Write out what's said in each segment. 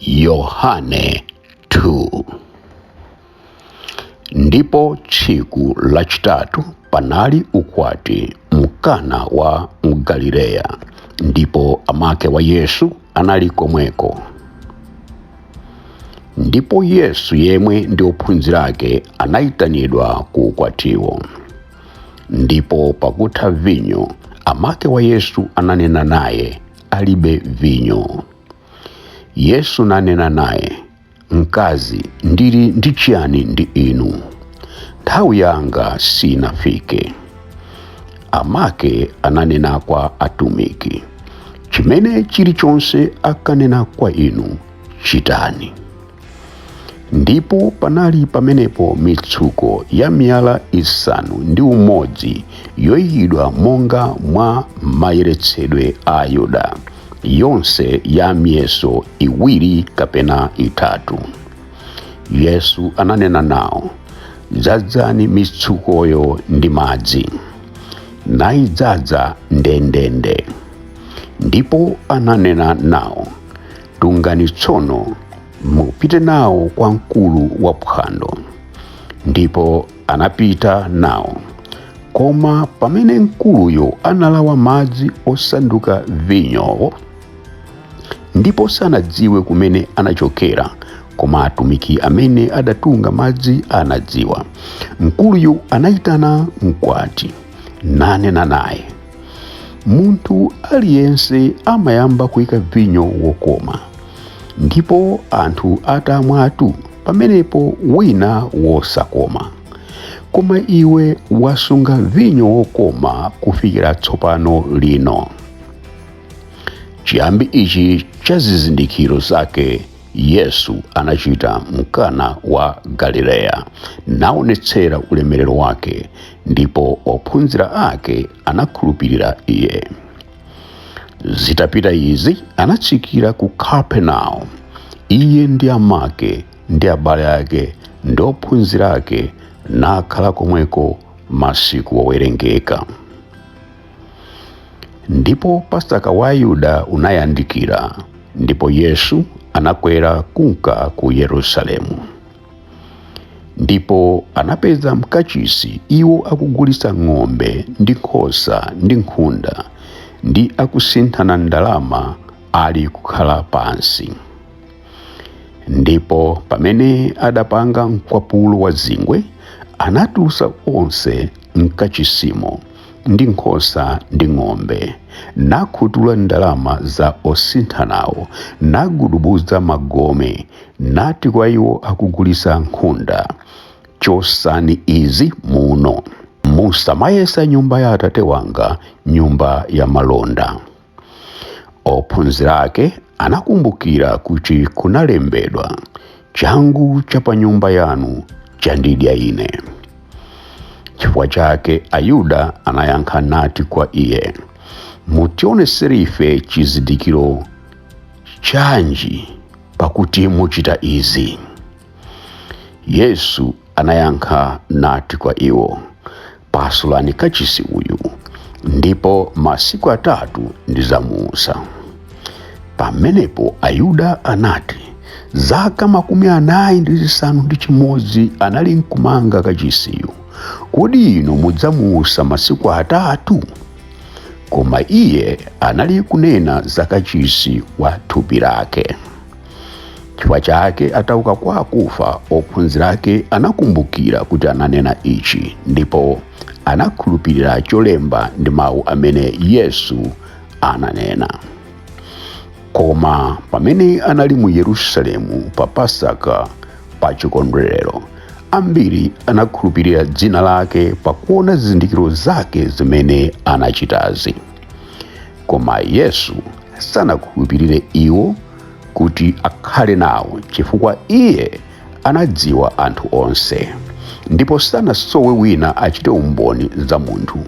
yohane 2 ndipo tsiku lachitatu panali ukwati mkana wa mgalileya ndipo amake wa yesu anali komweko ndipo yesu yemwe ndi ophunzira ake anayitanidwa ku ukwatiwo ndipo pakutha vinyo amake wa yesu ananena naye alibe vinyo. Yesu nanena naye, Mkazi, ndili ndi chiyani ndi inu? Nthawi yanga sinafike. Amake ananena kwa atumiki, Chimene chilichonse akanena kwa inu, chitani. Ndipo panali pamenepo mitsuko ya miyala isanu ndi umodzi yoyikidwa monga mwa mayeretsedwe a Ayuda, yonse ya miyeso iwiri kapena itatu. Yesu ananena nawo, Dzadzani mitsukoyo ndi madzi. Nayidzadza ndendende. Ndipo ananena nawo, Tungani tsono, mupite nawo kwa mkulu wa phwando. Ndipo anapita nawo. Koma pamene mkuluyo analawa madzi osanduka vinyowo, ndipo sanadziwe kumene anachokera, koma atumiki amene adatunga madzi anadziwa. Mkuluyo anayitana mkwati, nanena naye, munthu aliyense amayamba kuika vinyo wokoma ndipo anthu atamwatu pamenepo wina wosakoma koma iwe wasunga vinyo wokoma kufikira tsopano lino chiyambi ichi cha zizindikiro zake yesu anachita mkana wa galileya naonetsera ulemerero wake ndipo ophunzira ake anakhulupirira iye zitapita izi anatsikira ku kapernaumu iye ndi amake ndi abale ake ndi ophunzira ake nakhala komweko masiku owerengeka ndipo pasaka wa ayuda unayandikira ndipo yesu anakwera kunka ku yerusalemu ndipo anapeza mkachisi iwo akugulitsa ng'ombe ndi nkhosa ndi nkhunda ndi akusinthana ndalama ali kukhala pansi ndipo pamene adapanga mkwapulo wa zingwe anatulutsa onse mkachisimo ndi nkhosa ndi ng'ombe nakhutula ndalama za osinthanawo nagudubuza magome nati kwa iwo akugulitsa nkhunda chotsani izi muno musamayesa nyumba ya atate wanga nyumba ya malonda ophunzira ake anakumbukira kuti kunalembedwa changu cha pa nyumba yanu chandidya ine chifukwa chake ayuda anayankha nati kwa iye mutionetsera ife chizindikiro chanji pakuti muchita izi yesu anayankha nati kwa iwo, Pasulani kachisi uyu, ndipo masiku atatu ndidzamuutsa. Pamenepo Ayuda anati, Zaka makumi anayi ndi zisanu ndi chimodzi anali nkumanga kachisiyu, kodi inu mudzamuutsa masiku atatu? Koma iye anali kunena za kachisi wa thupi lake. chifukwa chake atauka kwa akufa ophunzira ake anakumbukira kuti ananena ichi ndipo anakhulupirira cholemba ndi mawu amene yesu ananena koma pamene anali mu yerusalemu pa pasaka pa chikondwerero ambiri anakhulupirira dzina lake pakuona zizindikiro zake zimene anachitazi koma yesu sanakhulupirire iwo kuti akhale nawo chifukwa iye anadziwa anthu onse ndipo sanasowe wina achite umboni za munthu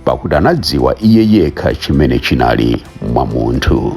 pakuti anadziwa iye yekha chimene chinali mwa munthu